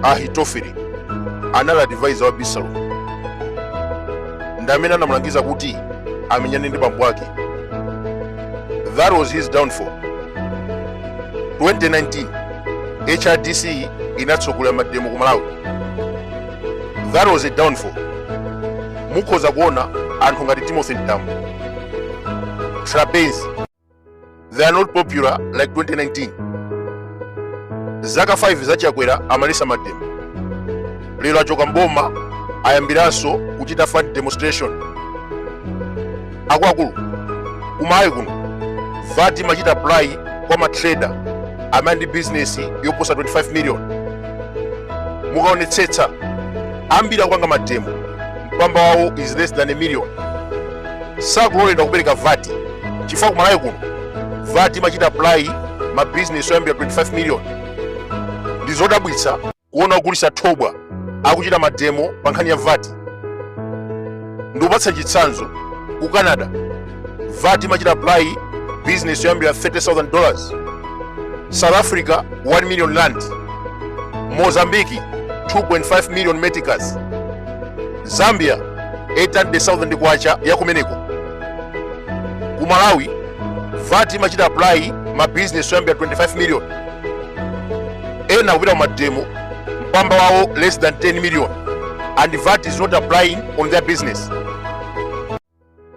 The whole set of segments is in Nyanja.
ahitofeli anali advisor wa abisalomu ndi amene anamulangiza kuti amenyane ndi bambo ake that was his downfall 2019 hrdc inatsogolera mademo ku malawi that was a downfall mukhoza kuona anthu ngati timothy mtambo trapence they are not popular like 2019 zaka 5 za chakwera amaletsa mademo lero achoka mboma ayambiranso kuchita fund demonstration akuluakulu kumalawi kuno vat imachita apply kwa matrader amene ali ndi business yoposa 25 million mukaonetsetsa ambiri akupanga mademo mpamba wawo is less than a million sakuloledwa kupereka vat chifukwa kumalawi kuno vat imachita apply ma business oyambira 25 million ndi zodabwitsa kuona ogulitsa thobwa akuchita mademo pa nkhani ya vat ndikupatsani chitsanzo ku canada vat imachita apply business yoyambira 30000 dollars south africa 1 million rand mozambiki 2.5 million meticas zambia 800,000 kwacha ya kumeneko ku malawi vat imachita apply ma business oyambira 25 million ena akupita kumademo mpamba wawo less than 10 million and vat is not applying on their business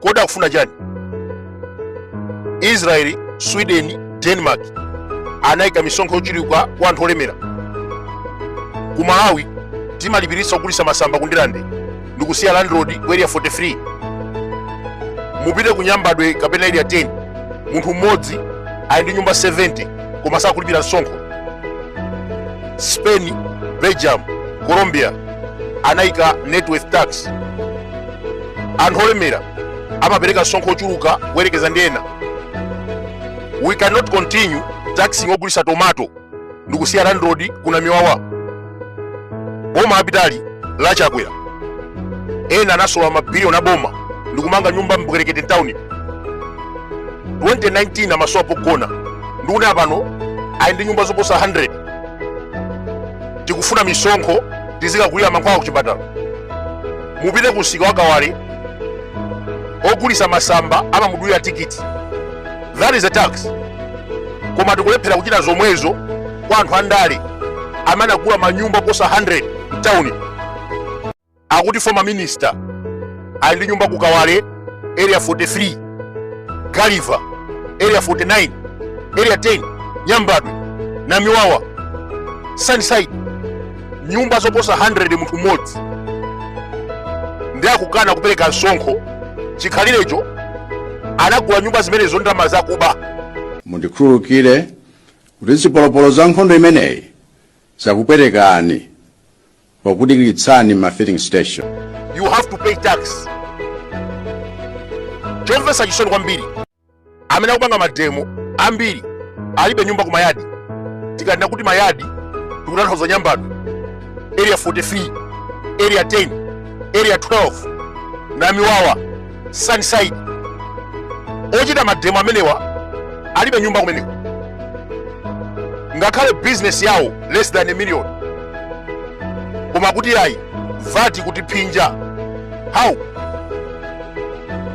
kodi akufuna chani israeli sweden denmark anayika misonkho yochuluka kwa anthu olemera ku malawi timalipiritsa ogulitsa masamba ku ndilande ndikusiya landlord ku area 43 mupite ku nyambadwe kapena area 10 munthu mmodzi ali ndi nyumba 70 koma sakulipira msonkho spain belgium colombia anayika net worth tax anthu olemera amapereka msonkho ochuluka kuyerekeza ndi ena we cannot continue taxing ogulitsa tomato ndikusiya landlord ku namiwawa boma lapitali la chakwera ena anasolola mabiliyoni aboma ndikumanga nyumba mbwerekete mtown 2019 amasowa pogona ndikunena pano ali ndi nyumba zoposa 100 tikufuna misonkho tizikagulira mankhwala kuchipatala mupite ku msika wa kawale ogulitsa masamba amamudulira tikiti that is a tax koma tikulephera kuchita zomwezo kwa anthu andale amene anagula manyumba oposa 100 mtawuni akuti former minister ali ndi nyumba ku kawale area 43 galiva area 49 area 10 nyambadwe namiwawa sunnyside nyumba zoposa 100 munthu mmodzi ndi akukana kupereka msonkho chikhalirecho anagula nyumba zimenezo ndi ndalama zakuba mundikhululukire kuti zipolopolo za nkhondo imeneyi zakupwetekani pokudikiritsani mma filling station you have to pay tax chomvetsa chisoni kwambiri amene akupanga mademo ambiri alibe nyumba ku mayadi tikanena kuti mayadi tikutanthauza nyambadwe area 43 area 10 area 12 namiwawa sunnyside ochita mademo amenewa alibe nyumba kumeneko ngakhale business yawo less than a million koma kuti ayi vat ikutiphinja how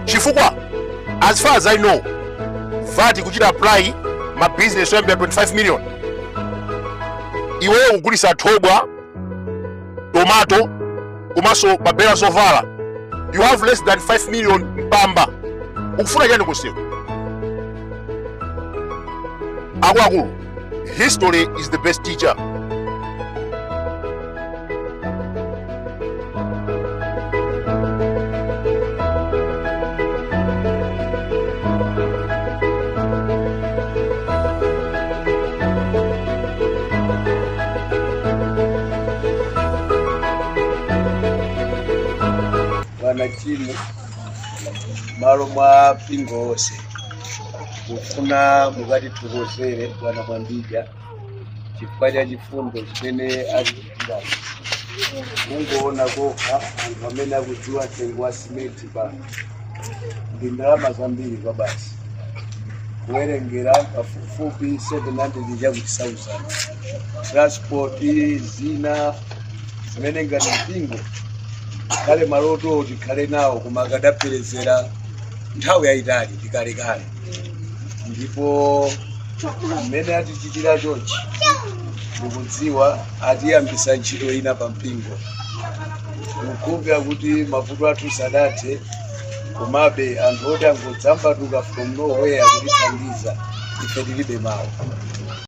chifukwa as far as i know vat ikuchita apply ma business oyambira 25 million iweyo kugulitsa thobwa tomato komanso pa belo la zovala you have less than 5 million mpamba ukufuna chani kumseu akuluakulu History is the best teacher. bwana chimu malo mwa mpingo wonse ndikufuna mukatithokozere bwana mwambidya chifukwa cha chifundo chimene atichitira mungoona kokha anthu amene akudziwa mtengo wa simenti pano ndi ndalama zambiri kwabasi kuwerengera pafupifupi 700 chakuti 1000 transport zina zimene ngati mpingo ngakhale maloto tikhale nawo koma akadaperezera nthawi yayitali ndi kalekale ndipo mmene atichitira chonchi ndikudziwa atiyambitsa ntchito ina pa mpingo ndikukhulupira kuti mavuto athu sadathe komabe anthu oti angodzambatuka from nowhere kutithandiza ife tilibe mawu